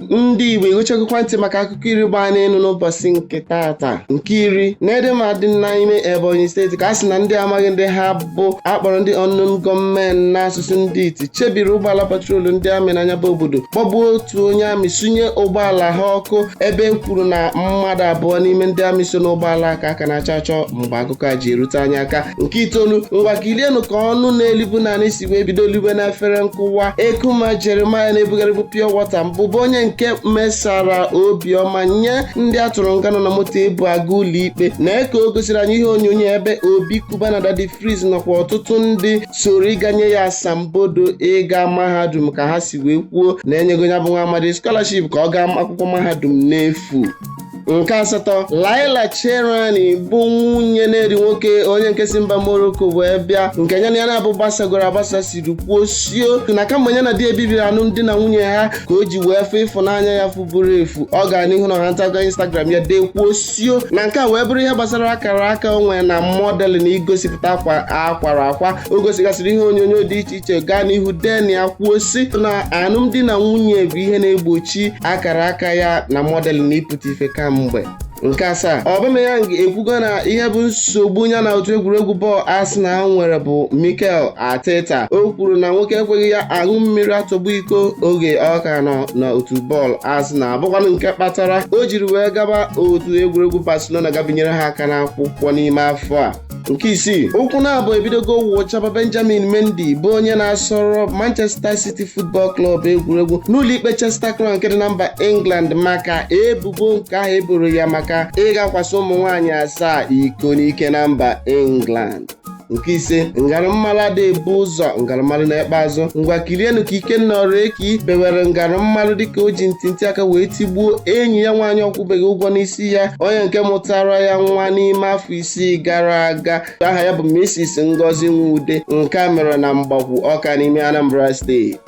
ndị Igbo ịghụchagokwa ntị maka akụkọ iri gbaa n'elu n'ụbọchị nke tata nke iri na dị n'ime Ebonyi steeti ka a sị na ndị amaghị ndị ha bụ akpọrọ ndị unknown gunmen n'asụsụ ndị iti chebiri ụgbọala patrol ndị amị na nya bụ obodo kpọgbuo otu onye amị sunye ụgbọala ha ọkụ ebe e kwuru na mmadụ abụọ n'ime ndị amị so n'ụgbọala a ka a ka na-achọ achọ mgbe akụkọ a ji erute anyị aka nke itoolu ngwa kilienụ ka ọnụ na-elibu n'anị si si wee bido liwe na efere nkụwa ekuma jeremiah na-ebugharịbụ pure water mbụ bụ onye nke mesara obiọma nye ndị a tụrụ nga nọ na moto ebu aga ụlọikpe na eko o gosiri anyị ihe onyonyo ebe obi cubana daddy freeze nakwa ọtụtụ ndị soro ịga nye ya asambodo ịga mahadum ka ha si wee kwuo na enyego nya bụ nwa amadi scholarship ka ọ gaa akwụkwọ mahadum n'efu nke asatọ laila charani bụ nwunye ned nwoko onye nke si mba morocco wee bịa nke ya na ya naabọ gbasagoro agbasa siri kwuo sio na kamgbe ya na di e bibiri alụmdi na nwunye ha ka o ji wee fụ ịfụnanya ya fuburu efu ọ gara n'ihu na ha ntago instagram ya dee kwuo sio na nke a wee bụrụ ihe gbasara akara aka o nwere na mọdelụ na igosipụta akwa akwara akwa o gosigasịrị ihe onyonyo dị iche iche gaa n'ihu denye kwuo si na alụmdi na nwunye bụ ihe na-egbochi akara aka ya na mọdelụ na ịpụta ife kamgbe nke asaa Aubameyang ekwugo na ihe bụ nsogbu ya na otu egwuregwu bọọlụ Arsenal nwere bụ Mikel Arteta o kwuru na nwoke ekweghị ya aṅụ mmiri atọgbọ iko oge ọ ka nọ na otu bọọlụ Arsenal bụkwanụ nke kpatara o jiri wee gaba otu egwuregwu Barcelona ga binyere ha aka n'akwụkwọ n'ime afọ a nke isii ụkwụ na-abụ ebidogo wụchaba benjamin mendy bụ onye na-asọrọ manchester city football club egwuregwu n'ụlọikpe chester crown nke dị na mba england maka ebubo nke ahụ eboro ya maka ịga kwasị ụmụ nwaanyị asaa iko n'ike na mba england nke ise ngarụmmarụ adị ebu ụzọ ngarụmmarụ na-ekpe azụ ngwa kirienụ ka ikenna ọrụ eki bewere ngarụmmarụ dịka o ji ntịntị aka wee tigbuo enyi ya nwaanyị ọ kwụbeghị ụgwọ n'isi ya onye nke mụtara ya nwa n'ime afọ isii gara aga aha ya bụ Mrs Ngozi Nwude nke a mere na Mgbakwu Ọka n'ime Anambra steeti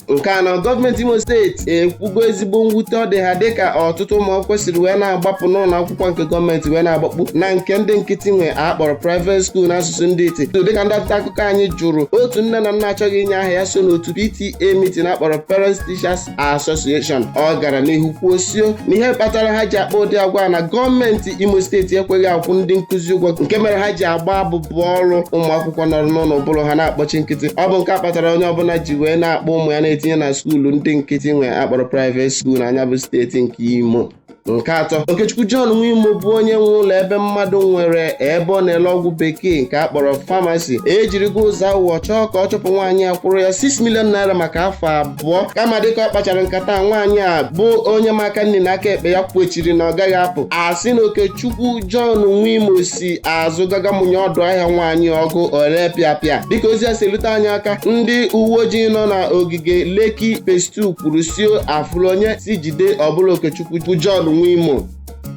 nke anọ gọọmenti Imo steeti ekwugo ezigbo mwute ọ dị ha dịka ọtụtụ ụmụ akwụkwọ siri wee na-agbapụ n'ụlọ akwụkwọ nke gọọmenti wee na-agbakpu na nke ndị nkịtị nwe akpọrọ private school n'asụsụ ndị iti dịka ndị nta akụkọ anyị jụrụ otu nne na nna achọghị inye aha ya so n'otu PTA meeting akpọrọ Parents Teachers Association ọ gara n'ihu kwuo sio na ihe kpatara ha ji akpa ụdị agwa a na gọọmenti Imo steeti ekweghị akwụ ndị nkụzi ụgwọ nke mere ha ji agba abụbọ ọrụ ụmụ akwụkwọ nọrọ n'ụlọ ụbụrụ ha na-akpọchi nkịtị ọ bụ nke a kpatara onye ọbụla ji wee na-akpọ ụmụ ya na-etinye na skuulu ndị nkịtị nwe akpọrọ private school na nya bụ steeti nke Imo nke atọ okechukwu john nwimo bụ onye nwe ụlọ ebe mmadụ nwere ebe ọ na-ele ọgwụ bekee nke a kpọrọ famasi ejirigo ụzọ awụwọ chọọ ka ọ chụpụ nwaanyị a kwụrụ ya 6 million naira maka afọ abụọ kama dịka ọ kpachara nkata nwaanyị a bụ onye ma aka nni na aka ekpe ya kwechiri na ọ gaghị apụ a sị na okechukwu john nwimo si azụ gaa mụnye ọdụ ahịa nwaanyị ọkụ o lee pịapịa dịka ozi a si lute anyị aka ndị uwe ojii nọ na ogige Lekki Phase 2 kwuru sị o a fụrụ onye sị jide ọ bụlụ Okechukwu bụ John Nwimo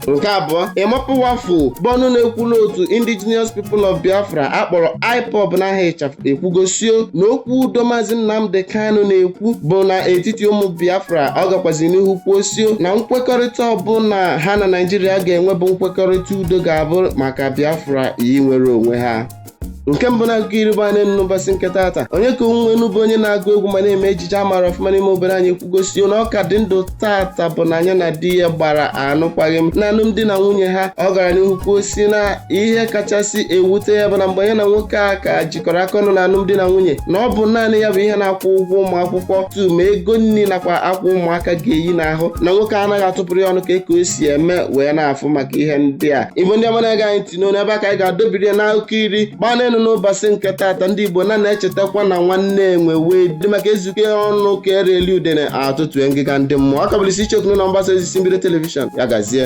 nke abụọ emma powerful bụ ọnụ na-ekwulu otu indigenous people of biafra a kpọrọ ipob n'aha ịchafụ ekwugo sị o na okwu udo maazị nnamdị kanu na-ekwu bụ n'etiti ụmụ biafra ọ gakwazi n'ihu kwuo sị o na nkwekọrịta ọbụla ha na naijiria ga-enwe bụ nkwekọrịta udo ga-abụ maka biafra inwere onwe ha nke mbụ n'akụkọ iri gbaa n'elu n'ụbọchị nke taata onyeka onwenu bụ onye na-agụ egwu ma na-eme ejije a maara ọfụma n'ime obodo anyị ekwugo sị o na ọ ka dị ndụ taata bụ na nya na di ya gbara anụkwaghị m na alụmdi na nwunye ha ọ gara n'ihu kwuo sị na ihe kachasị ewute ya bụ na mgbe ya na nwoke a ka ji jikọrọ aka ọnụ na alụmdi na nwunye na ọ bụ naanị ya bụ ihe na-akwụ ụgwọ ụmụ akwụkwọ tuu ma ego nri nakwa akwa ụmụaka ga-eyi n'ahụ na nwoke anaghị atụpụrụ ya ọnụ ka eke o si eme wee na-afụ maka ihe ndị a igbo ndị ọma na-ege anyị ntị ọ n'ebe a ka anyị ga-adobiri ya n'akụkọ iri gbaa n'elu n'ụbọchị nke taata ndị igbo na na-echetakwa na nwanne enwe wee dị maka e zukọọ ọnụ ka e rie udene a tọtue ngịga ndị mmụọ ọ ka bụlisi icheoku unu na mgbasa ozi si mbido telivishọn ya gazie